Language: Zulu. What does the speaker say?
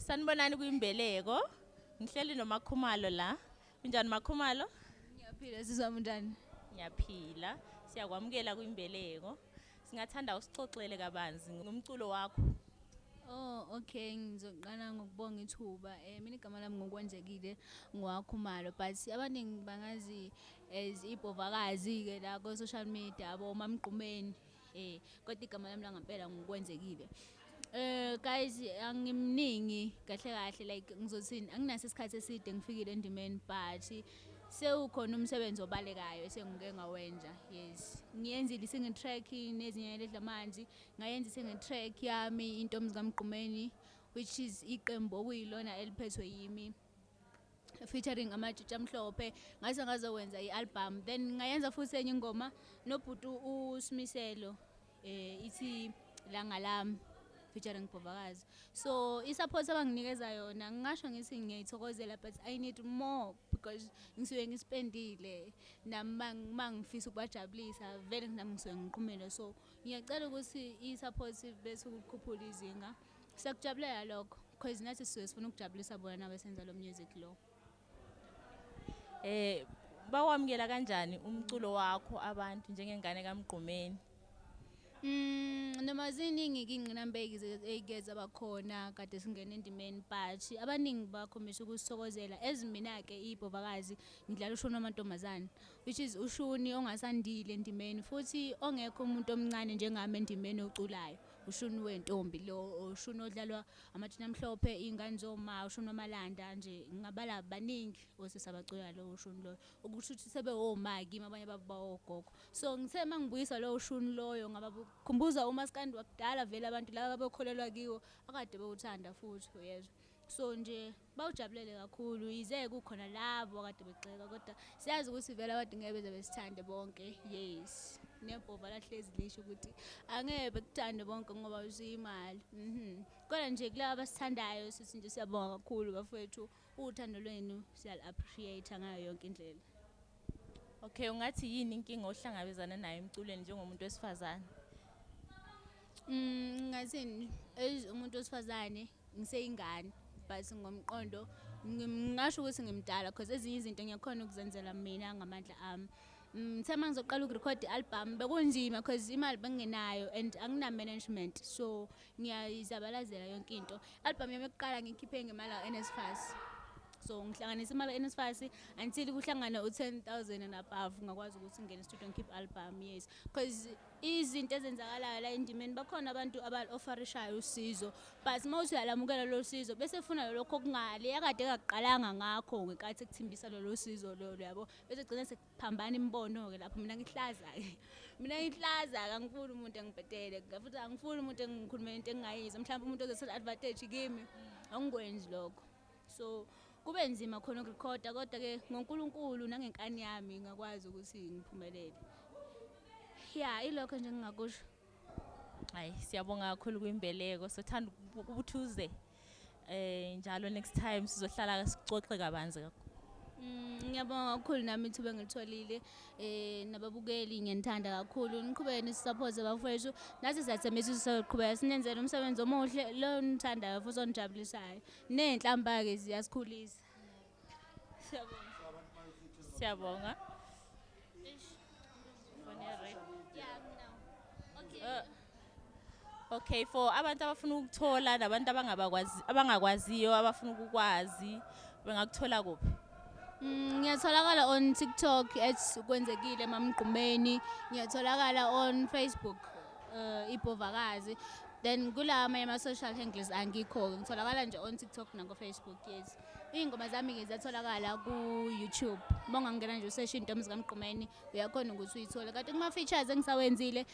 Sanibonani kwimbeleko. Ngihleli noMakhumalo la. Unjani Makhumalo? Ngiyaphila sizwa munjani? Ngiyaphila. Siyakwamukela kwimbeleko. Singathanda usixoxele kabanzi ngomculo wakho. Oh okay ngizoqala ngokubonga ithuba. Eh mina igama lami ngokwenzekile ngwakhumalo but abaningi bangazi as ibhovakazi-ke la ko-social media abo mamgqumeni eh kodwa igama lami langampela ngokwenzekile Eh guys angimningi kahle kahle like ngizothini anginaso isikhathi eside ngifikile endimeni but sewukhona umsebenzi obalekayo esengike ngawenza yes ngiyenzile i-single track nezinye ledla amanzi ngayenza i-single track yami intombi zikamgqumeni which is iqembu okuyilona eliphethwe yimi featuring amatshutsha amhlophe ngase ngazokwenza i-album then ngayenza futhi enye ingoma nobhuti usimiselo um ithi langa lami featuring bhovakazi so i-support abanginikeza yona ngingasho ngithi ngiyayithokozela but i need more because ngisuke ngisipendile nami uma ngifisa ukubajabulisa vele nami ngisuke ngiqhumile so ngiyacela ukuthi i-support bese ukukhuphula izinga Siyakujabulela lokho because nathi sisuke sifuna ukujabulisa bona nabesenza lo music lo. Eh bawamukela kanjani umculo wakho abantu njengengane kaMgqumeni? Mm noma ziningi ingqinamba ey'keze abakhona kade singena endimeni but abaningi bakhombisa ukusithokozela as mina-ke iy'bhovakazi ngidlala ushuni wamantombazane which is ushuni ongasandile endimeni futhi ongekho umuntu omncane njengami endimeni oculayo ushuni wentombi lo ushuni odlalwa amathina amhlophe iy'ngane zoma ushuni wamalanda nje ngingabala baningi osisi abacula lo ushuni loyo ukusho ukuthi sebewoma kimi abanye babo bawogogo so ngithe uma ngibuyisa lo ushuni loyo ngabakhumbuza umaskandi wakudala vele abantu laba babekholelwa kiwo akade bewuthanda futhi uyezwa so nje Bawujabulele kakhulu yize kukhona labo akade begxeka kodwa siyazi ukuthi vele abantu ngeke beze besithande bonke yes nebhova lahlezi lisho ukuthi angeke bekuthande bonke ngoba usuyimali mhm kodwa nje kulabo abasithandayo sithi nje siyabonga kakhulu bafowethu uthando lwenu siyal appreciate ngayo yonke indlela Okay ungathi yini inkinga ohlangabezana nayo emculweni njengomuntu wesifazane Mm ngathini umuntu wesifazane ngiseyingane but ngomqondo ngingasho ukuthi ngimdala because ezinye izinto ngiyakhona ukuzenzela mina ngamandla ami um ngithe uma ngizoqala ukurekhode i-album bekunzima because imali bengingenayo and angina-management so ngiyayizabalazela yonke into i-album yami yokuqala ngiyikhiphe ngemali ka-nsfas so ngihlanganisa imali ka-nsfas until kuhlangane u-ten thousand and above ngakwazi ukuthi ngingene estudio ngikhiphe i-album yes because izinto ezenzakalayo la endimeni bakhona abantu abalofarishayo usizo but uma uthi uyalamukela lolu sizo bese funa lokho kungale yakade kakuqalanga ngakho ngekathi kuthimbisa lolu sizo lolo yabo bese gcina sekuphambana imibono-ke lapho mina ngihlaza-ke mina ngihlaza kangifuni umuntu engibhedele futhi angifuni umuntu engikhulumela into engingayizwa mhlawumbe umuntu ozothela advantage kimi angikwenzi lokho so kube nzima khona ukurekhoda kodwa-ke ngonkulunkulu nangenkani yami ngakwazi ukuthi ngiphumelele ya ilokho nje ngingakusho hayi siyabonga kakhulu kwimbeleko sothanda ubuthuze eh njalo next time sizohlala sixoxe kabanzi kakhulu mm, ngiyabonga kakhulu nami ithuba engilitholile mm, eh nababukeli ngiyanithanda kakhulu niqhubeke nisisaphoze bafowethu nathi siyathembisa ukuthi sizoqhubeka sinenzele umsebenzi omuhle lo nithandayo futhi onijabulisayo ney'nhlamba-ke ziyasikhulisa siyabonga siyabonga Eish, ngifone red. Yeah, no. Okay. Uh, Okay for abantu abafuna ukuthola nabantu abangabakwazi abangakwaziyo abafuna ukukwazi bengakuthola kuphi? Mm, ngiyatholakala on TikTok at kwenzekile mamgqumeni ngiyatholakala on Facebook uh, ibhovakazi then kula amanye ama-social handles angikho ngitholakala nje on tiktok nangofacebook yes iy'ngoma zami-ke ziyatholakala ku-youtube uma ungangena nje useshe intombi zikamgqumeni uyakhona ukuthi uyithole kanti kuma-features engisawenzile